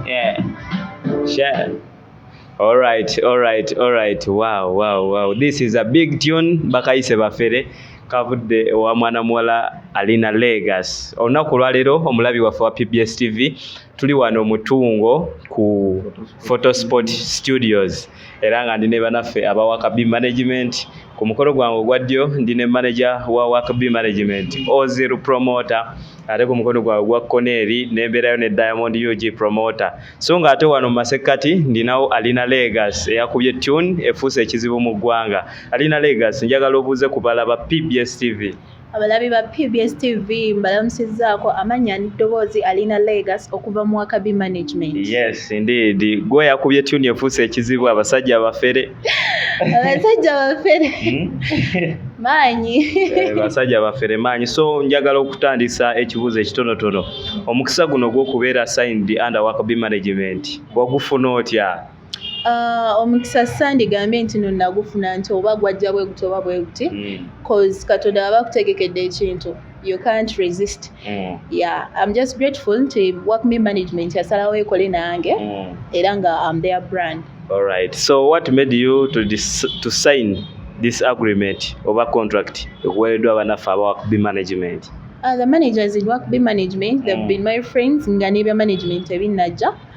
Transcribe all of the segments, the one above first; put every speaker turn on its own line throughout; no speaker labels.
Yeah. Share. All right, all right, all right. Wow, wow, wow. This is a big tune. Bakayise bafere. kavudde owa mwana muwala alina legas olunaku olwaleero omulabi waffe wa pbs tv tuli wano mutungo ku photosport studios era nga ndi ne banaffe aba wakabi management ku mukolo gwange ogwa ddyo ndi ne manaja wa wakabi management ozil promoter ate ku mukono gwange ogwa kkono eri nembeerayo ne diamond ug promoter so nga ate wano mu masekkati ndinawo alina legas eyakubye tune efuuse ekizibu mu ggwanga alina legas njagala obuuze ku balaba pbs tv Abalabi ba
PBS TV mbalamusizaako amannya n'eddoboozi Alina Legas okuva mu Wakabi Management. Yes, indeed.
Gwe yakubye tune efuuse ekizibu abasajja abafere. Abasajja
abafere. Hmm? Maanyi. Eh, abasajja
abafere maanyi. So njagala okutandisa ekibuuzo ekitonotono. Omukisa guno gw'okubeera signed under Wakabi Management wagufuna otya? Ah,
omukisa sandi gambe nti no nagufuna nti oba gwajja bwe guti oba bwe guti hmm. cause katonda aba akutegekedde ekintu you can't resist hmm. yeah i'm just grateful nti work me management yasalawo ekole nange hmm. era nga am their brand all right so
what made you to, dis to sign this agreement oba contract ekuweereddwa abanaffe aba work be management uh, the managers
in work be management they've been my friends nga nebya management ebinnajja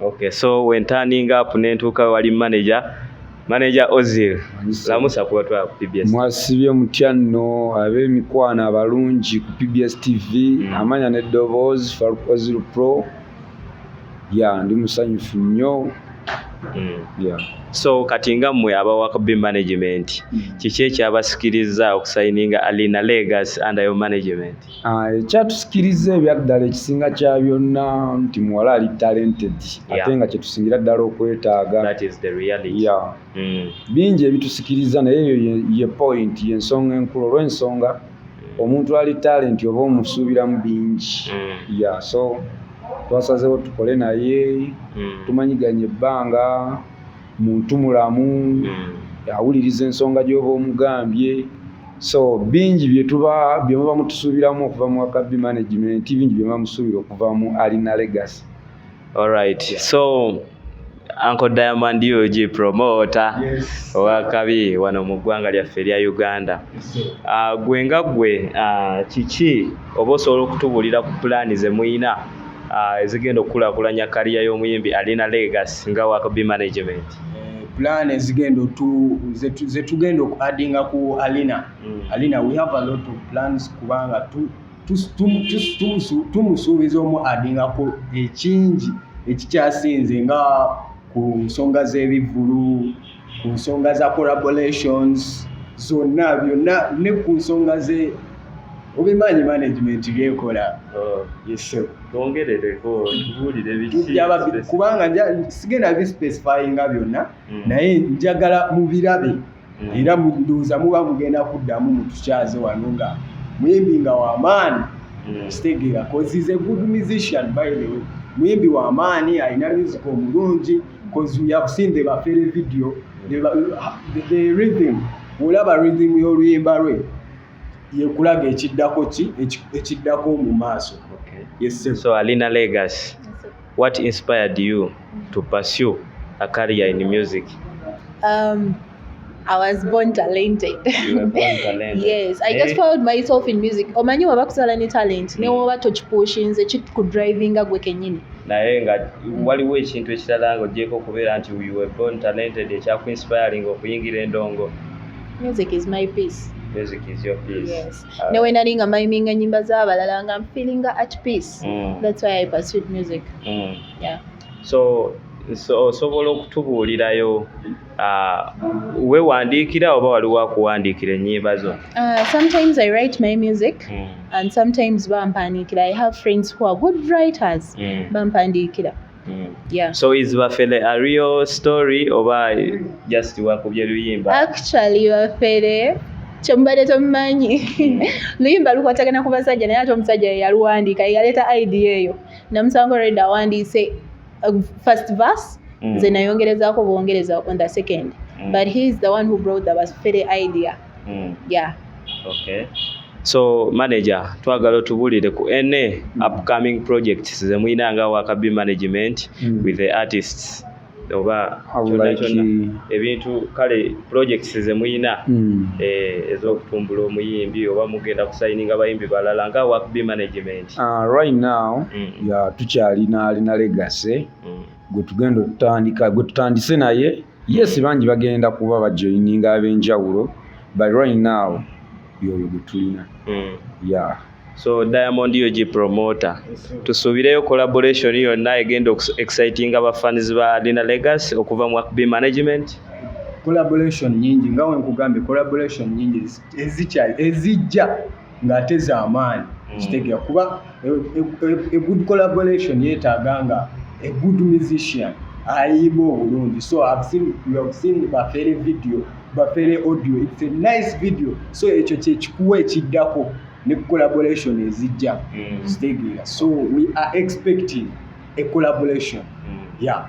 Okay, so when turning
up nentuuka wali manager manager Ozil lamusa kuba twa ku PBS. Mwasibye mutya
nno ab'emikwano abalungi ku PBS TV mm. amanya ne Doboz Farouk Ozil Pro ya ndi musanyufu nnyo mm. yeah. So kati
nga mmwe aba Wakobi management mm. kiki ekyabasikiriza okusayininga Alina Legacy under your management? Ah, ekyatusikiriza
ebyaddala ekisinga kya byonna nti muwala ali talented ate nga kyetusingira ddala okwetaaga hmm. bingi ebitusikiriza naye eyo ye point yensonga enkulu olwensonga hmm. omuntu ali talenti oba omusuubiramu bingi hmm. ya so twasazewo tukole naye tumanyiganye ebbanga muntu mulamu hmm. awuliriza ensonga gy'oba omugambye so bingi byetuba byemuba mutusuubiramu okuva mu wakabi management bingi byemuba musuubira okuva mu alina legacy alright
yeah. so Uncle Diamond Yuji promoter yes.
wakabi wano
mu ggwanga lyaffe erya Uganda yes, uh, gwe nga gwe uh, kiki oba osobola okutubulira ku pulaani ze muyina uh, ezigenda okukulakulanya kariya y'omuyimbi alina legas nga wakobi management eh, plan
ezigenda zetugenda oku addinga ku alina mm. alina we have a lot of plans kubanga tumusuubiza omu addingako ekingi ekikyasinze nga ku nsonga z'ebivvulu ku nsonga za collaborations zonna byonna ne ku nsonga ze obimanyi management byekola oh.
kubanga
sigenda bispecifyinga byonna hmm. naye njagala mubirabe hmm. era munduuza muba mugenda kuddamu mutukyaze wano nga muyimbi nga wamaani hmm. kitegeera cause is a good musician by the way muyimbi wamaani alina music omulungi because we have seen the bafere video the, the, the rhythm olaba rhythm y'oluyimba lwe yekulaga ekiddako ki ekiddako mu maaso okay. yes, so alina legacy
what inspired you to pursue a career in music um,
I was born talented. You
were born talented. yes, I just eh? found
myself in music. Omanyi waba kusala ne talent ne hmm. woba tokipushinze kit ku drivinga gwe kenyini. Naye
nga hmm. waliwo ekintu ekirala nga ojeko kubeera nti you were born talented ekyaku inspiring okuyingira endongo. Music is
my peace. Music is your peace.
Yes. Uh, ne wena ninga
maiminga nyimba z'abalala nga I'm feeling at peace. Mm. That's why I pursued music. Mm. Yeah. So
so osobola okutubuulirayo Uh, wewandiikira oba waliwo akuwandiikira ennyimba zo uh, sometimes i write
my music mm. and sometimes bampandiikira i have friends who are good writers mm. bampandiikira mm. yeah. so is bafele
a real story oba just wakubye luyimba actually bafele
kyemubadde tomumanyi hmm. luyimba lukwatagana ku basajja naye ate omusajja yeyaluwandiika yeyaleeta idea eyo namusanga olwedda awandiise uh, first verse mm. nze nayongerezaako bwongereza on the second mm. but he is the one who brought the basfere idea mm. yeah okay
so manager twagala otubulire ku na upcoming projects zemulina nga wakabi management mm. with the artists oba ebintu kale projects zemulina mm. eh, ezokutumbula omuyimbi oba mugenda kusayininga bayimbi balala nga wakabi management Uh, right now
mm. ya tukyalina alina legase mm. gwe tugenda otutandika gwe tutandise naye yes mm. bangi bagenda kuba bajoininga ab'enjawulo but right now yoyo gwe tulina mm. yeah. so
diamond ug promoter tusuubireyo collaboration yonna egenda exciting abafans ba alina legacy okuva mu akb management collaboration
nyingi nga wenkugambye collaboration nyingi ezijja ng'ate z'amaanyi mm. kitegera kuba e, e, e, a good collaboration yeetaaga nga a good musician ayimba obulungi so I've seen, you have seen bafere video bafere audio it's a nice video so ekyo kyekikuwa ekiddako ne collaboration ezijja mm. zitegeera so we are expecting a collaboration mm. yeah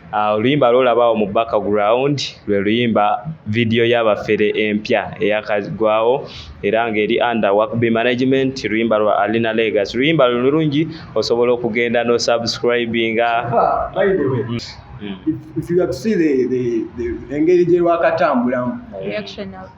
Ah, oluyimba uh, lwolabawo mu background lwe luyimba vidiyo y'abafere empya eyakagwawo era ng'eri under workb management luyimba lwa alina legas luyimba lulungi osobola okugenda no subscribinga
engeri gye lwakatambulamu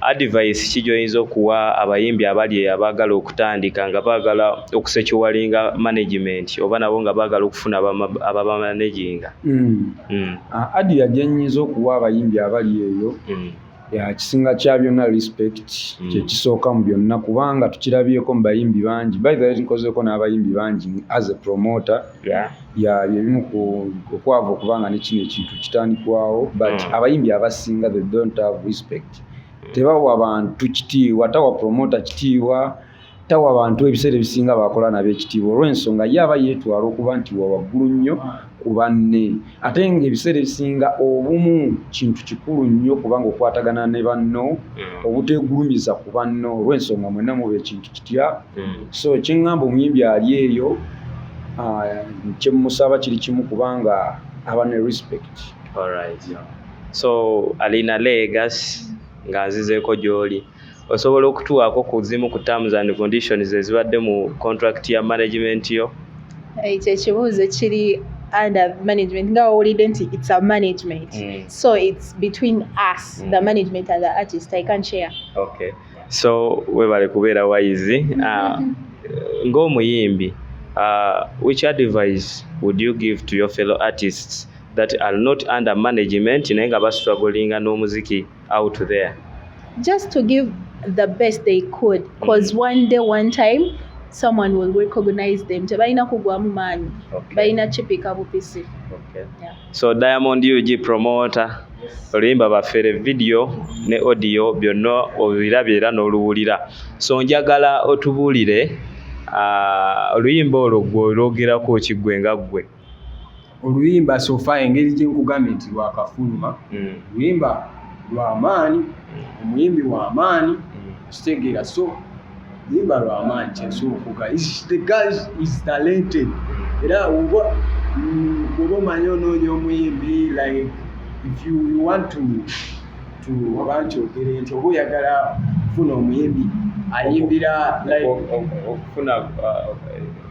advice ki gyoyinza okuwa abayimbi abali abaagala okutandika nga baagala okusecuwalinga management oba nabo nga baagala okufuna ababamanaginga hmm. hmm.
ah, adia gyenyinza okuwa abayimbi abali eyo hmm. yakisinga kya byonna respect kyekisooka mu byonna kubanga tukirabyeko mu bayimbi bangi baithe nkozeeko n'abayimbi bangi as a promoter ya byebimu ku okwavu okubanga ne kino ekintu kitandikwawo but mm. abayimbi abasinga they don't have respect mm. tebawa bantu kitiibwa tawa promota kitiibwa tawa bantu ebiseera ebisinga bakola nabo ekitiibwa olw'ensonga ye aba yeetwala okuba nti wa waggulu nnyo ku banne ate ng'ebiseera ebisinga obumu kintu kikulu nnyo kubanga okwatagana ne banno mm. obuteegulumiza ku banno olw'ensonga mwenna muba ekintu kitya mm. so kyeŋŋamba omuyimbi ali eyo ah, kyemusaba kiri kimu kubanga aba ne respect Alright. Yeah.
so alina legas nga nzizeeko gy'oli osobola okutuwaako ku zimu ku terms and conditions ezibadde mu contract ya management yo ekyo
ekibuuzo kiri under management nga owulidde nti it's a management mm. so it's between us mm. the management and the artist i can share okay so
webale kubeera wayizi ah, ng'omuyimbi ah, which advice would you give to your fellow artists that are not under management naye nga bastrugglinga n'omuziki out there just to
give the best they could because mm -hmm. one day one time someone will recognize them tebalina kugwamu maanyi balina
kipika bupisi
okay.
yeah. so
diamond
ug
promoter
oluyimba bafere vidiyo ne odiyo byonna obirabye era n'oluwulira so njagala otubuulire ah, oluyimba olwo gwe olwogerako kiggwe nga ggwe oluyimba
sofa engeri gyenkugambye nti lwakafuluma hmm. oluyimba lwamaanyi omuyimbi wamaanyi hmm. kitegeera so yimba lwamaanyi kyesuukuka the guy is talented era oba oba omanyi onoonya omuyimbi like if you want to to oba nti ogere nti oba oyagala kufuna omuyimbi ayimbira okufuna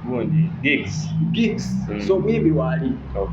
gundi uh, gigs gigs mm. so omuyimbi
waali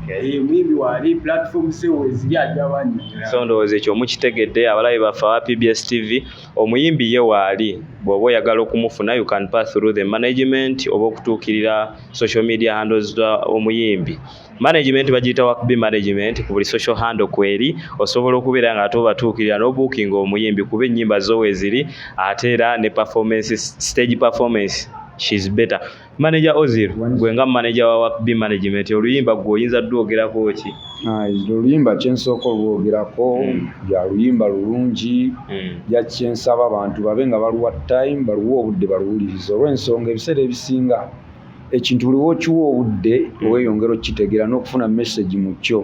eh, omuyimbi waali platform sewo eziri ajawanyonyola so ndowooza ekyo
mukitegedde abalabi baffe aba pbs tv Omuyimbi ye waali bw'oba oyagala okumufuna you can pass through the management oba okutuukirira social media handles za omuyimbi management bagiyita wakbi management ku buli social handle kweri osobola okubeera nga ate obatuukirira n'obuukinga omuyimbi kuba ennyimba zo weeziri ate era ne performance stage performance she's better Manager Ozil gwe nga manager wa Wap B Management oluyimba gwe oyinza dwogerako ki? Ah, oluyimba
kyensooka olwogerako hmm. ya luyimba lulungi hmm. ya kyensaba abantu babe nga baluwa time baluwa obudde baluwuliriza olw'ensonga ebiseera ebisinga ekintu buli wokiwa obudde hmm. oweyongera okukitegeera n'okufuna message mu kyo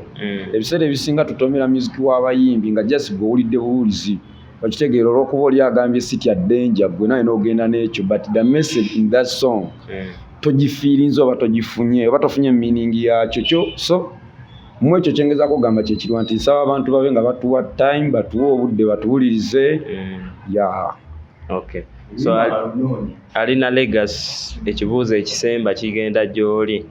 ebiseera ebisinga tutomera muziki w'abayimbi nga just gwe owulidde buwulizi okitegeera olwokuba oli agambye sitya danger gwe naye nogenda nekyo but the message in that song eh. togifiirinza oba togifunye oba tofunye meaning yakyo kyo so mu ekyo kyengezako kugamba kyekirwa nti nsaba abantu babe nga batuwa time batuwe obudde batuwulirize eh. ya
okay so alina legas ekibuuzo ekisemba kigenda gyoli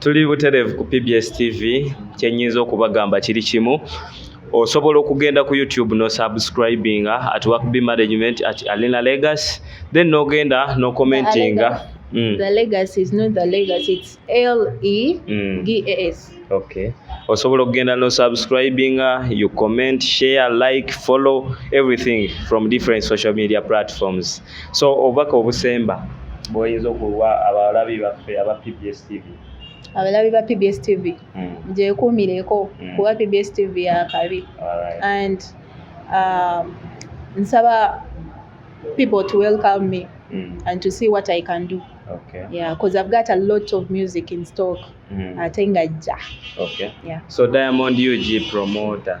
tuli butereevu ku pbs tv kyenyinza okubagamba kiri kimu osobola okugenda ku youtube no subscribinga at work b management at alina legacy then nogenda no commentinga Mm. The
legacy is not the legacy, it's L E G A S. Mm. Okay. Osobola
okugenda no subscribing, uh, you comment, share, like, follow everything from different social media platforms. so obubaka obusemba bwoyinza okuwa abalabi baffe aba pbs tv abalabi ba
pbs tv mm. gyekuumireko mm. kuba pbs tv yakabi right. and um, nsaba people to welcome me mm. and to see what i can do Okay. Yeah, because I've
got a
lot of music in stock. Mm. Atenga ja. Okay. Yeah.
So Diamond
UG
promoter.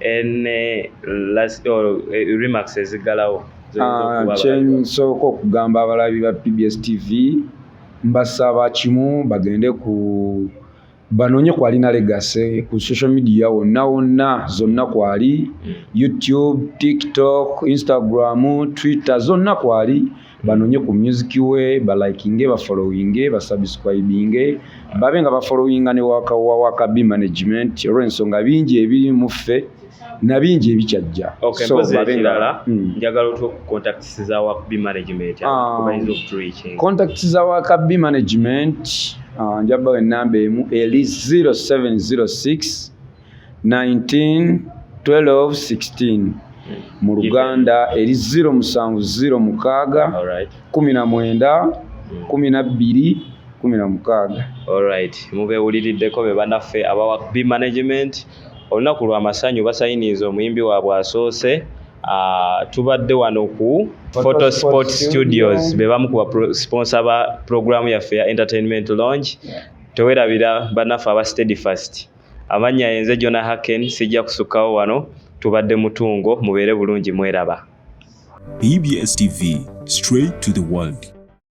ene last or eh, remarks ezigalawo ah, kyensooka
okugamba abalabi ba pbs tv mbasaba kimu bagende ku banoonye ku alina legase ku social media wonna wonna zonna kwali hmm. youtube tiktok instagram twitter zonna kwali mm. banonye ku music we balikinge bafollowinge basubscribinge babe nga bafollowinga ne waka wa waka b management olw'ensonga bingi ebiri mu ffe na bingi ebikyajja okay, so babe nga
hmm. njagala otwo contacts za waka b management um, contacts za waka b
management uh, njabba enamba emu eli 0706 191216 mu luganda eri 0 musanvu 0 mukaaga 19 12 16 olright
mubewuliriddeko be banaffe abawa b management olunaku lwa masanyu basayiniiza omuyimbi waabwe asoose ah, tubadde wano ku photo sport studios be bamu ku basponsa ba programu yaffe ya entertainment lounge tewerabira banaffe aba steady fast Amannya yenze Jona Haken sijja kusukkawo wano tubadde mutungo mubeere
bulungi
mweraba.
BBS TV straight
to the
world.